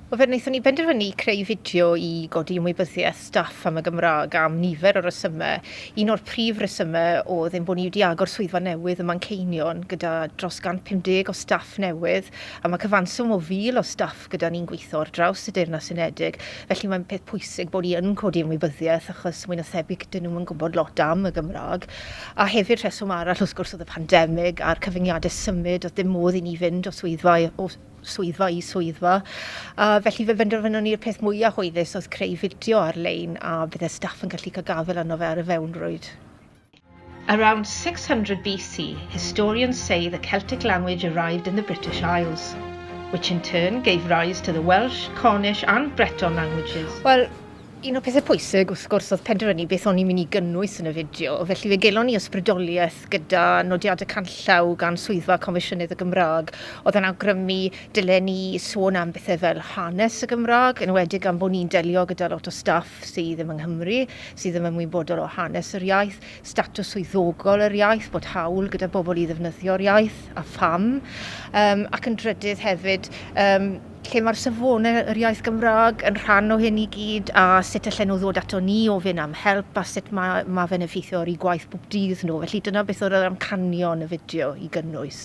Wel, fe wnaethon ni benderfynu creu fideo i godi ymwybyddiaeth staff am y Gymraeg am nifer o resymau. Un o'r prif resymau oedd ein bod ni wedi agor swyddfa newydd ym Manceinion gyda dros 150 o staff newydd a mae cyfanswm o 1,000 o staff gyda ni'n gweithio ar draws y Deyrnas Unedig, felly mae'n peth pwysig bod ni yn codi ymwybyddiaeth achos mwy na thebyg 'dyn nhw'm yn gwybod lot am y Gymraeg. A hefyd rheswm arall wrth gwrs oedd y pandemig a'r cyfyngiadau symud, oedd dim modd i ni fynd o swyddfa o swyddfa i swyddfa. A felly fe benderfynon ni'r peth mwyaf hwylus oedd creu fideo ar-lein a bydde staff yn gallu cael gafel arno fe ar y fewnrwyd. Around 600 BC, historians say the Celtic language arrived in the British Isles, which in turn gave rise to the Welsh, Cornish and Breton languages. Wel, un o pethau pwysig wrth gwrs oedd penderfynu beth o'n i'n mynd i gynnwys yn y fideo, felly fe gelon ni ysbrydoliaeth gyda nodiadau canllaw gan Swyddfa Comisiynydd y Gymraeg oedd yn awgrymu dylen ni sôn am bethau fel hanes y Gymraeg, yn enwedig am bod ni'n delio gyda lot o staff sydd ddim yng Nghymru, sydd ddim ymwybodol o hanes yr iaith, statws swyddogol yr iaith, bod hawl gyda bobl i ddefnyddio'r iaith, a pham, um, ac yn drydydd hefyd, um, lle mae'r safonau yr iaith Gymraeg yn rhan o hyn i gyd a sut allan nhw ddod ato ni ofyn am help a sut mae, mae fe'n effeithio ar eu gwaith bob dydd nhw. Felly dyna beth oedd yr amcanion y fideo i gynnwys.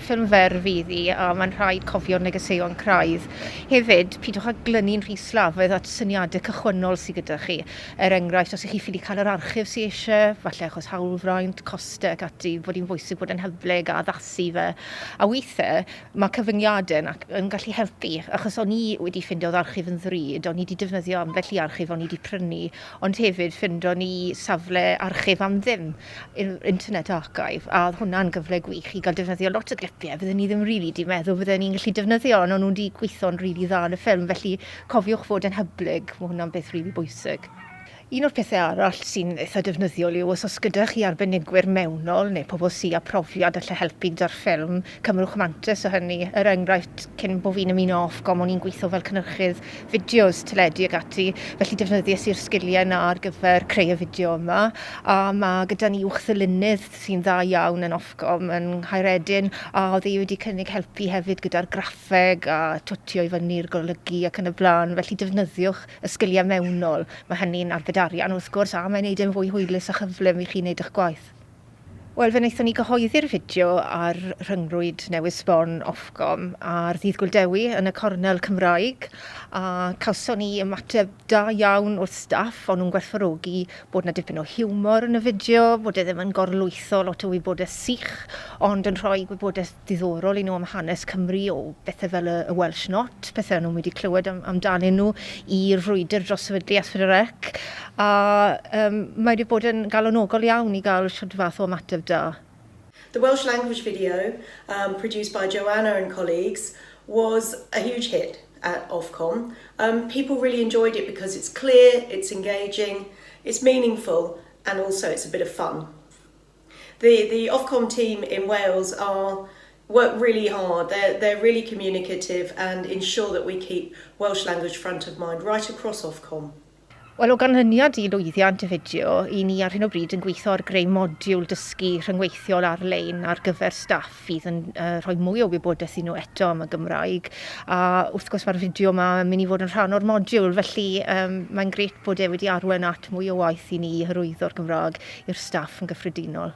Ffilm fer fydd hi, a mae'n rhaid cofio'r negeseuon craidd. Hefyd, pidwch â glynu'n rhy slafaidd at syniadau cychwynnol sydd gyda chi. Er enghraifft, os y'ch chi ffili cael yr archif sy eisiau, falle achos hawlfraint, costau ac ati, fod hi'n bwysig bod yn hyblyg a addasu fe. A weithiau, mae cyfyngiadau yn yn gallu helpu, achos o'n i wedi ffindo oedd archif yn ddrud, o'n i wedi defnyddio ambell i archif o'n i wedi prynu, ond hefyd ffindo ni safle archif am ddim. yr Internet Archive, a oedd hwnna'n gyfle gwych i gael defnyddio lot o glipiau fydden ni ddim rili really 'di meddwl fydden ni'n gallu defnyddio, ond o'n nhw 'di gweithio'n rili really dda yn y ffilm, felly cofiwch fod yn hyblyg, mae hwnna'n beth rili really bwysig. Un o'r pethau arall sy'n eitha defnyddiol yw os oes gyda chi arbenigwyr mewnol neu pobl sy â profiad allai helpu gyda'r ffilm, Cymrwch mantais o hynny, er enghraifft, cyn bo fi'n ymuno Ofcom o'n i'n gweithio fel cynhyrchydd fideos, teledu ac ati, felly defnyddies i'r sgiliau 'na ar gyfer creu y fideo yma, a ma' gyda ni uwchddylunydd sy'n dda iawn yn Ofcom yn Nghaeredin, a o'dd e wedi cynnig helpu hefyd gyda'r graffeg a twtio i fyny'r golygu ac yn y bla'n, felly defnyddiwch y sgiliau mewnol, ma' hynny'n arbed arian wrth gwrs, a mae'n neud e'n fwy hwylus a chyflym i chi neud 'ych gwaith. Wel, fe wnaethon ni gyhoeddi'r fideo ar rhyngrwyd newydd sbon Ofcom ar ddydd Gŵyl Dewi yn y cornel Cymraeg a cawson ni ymateb da iawn o'r staff, o'n nhw'n gwerthfawrogi bod 'na dipyn o hiwmor yn y fideo, bod e ddim yn gorlwytho lot o wybodaeth sych ond yn rhoi gwybodaeth ddiddorol i nhw am hanes Cymru o bethe fel y Welsh Not, pethe o'n nhw'm wedi clywed am amdanyn nhw, i'r frwydr dros sefydlu Asfydrec, a yym mae wedi bod yn galonogol iawn i gael shwd fath o ymateb da. The Welsh language video, um, produced by Joanna and colleagues, was a huge hit at Ofcom. Um, people really enjoyed it because it's clear, it's engaging, it's meaningful, and also it's a bit of fun. The the Ofcom team in Wales are work really hard, they're they're really communicative and ensure that we keep Welsh language front of mind right across Ofcom. Wel, o ganlyniad i lwyddiant y fideo, 'y ni ar hyn o bryd yn gweithio ar greu modiwl dysgu rhyngweithiol ar-lein ar gyfer staff fydd yn uh, rhoi mwy o wybodaeth i nhw eto am y Gymraeg. A wrth gwrs mae'r fideo yma yn mynd i fod yn rhan o'r modiwl, felly um, mae'n gret bod e wedi arwen at mwy o waith i ni i hyrwyddo'r Gymraeg i'r staff yn gyffredinol.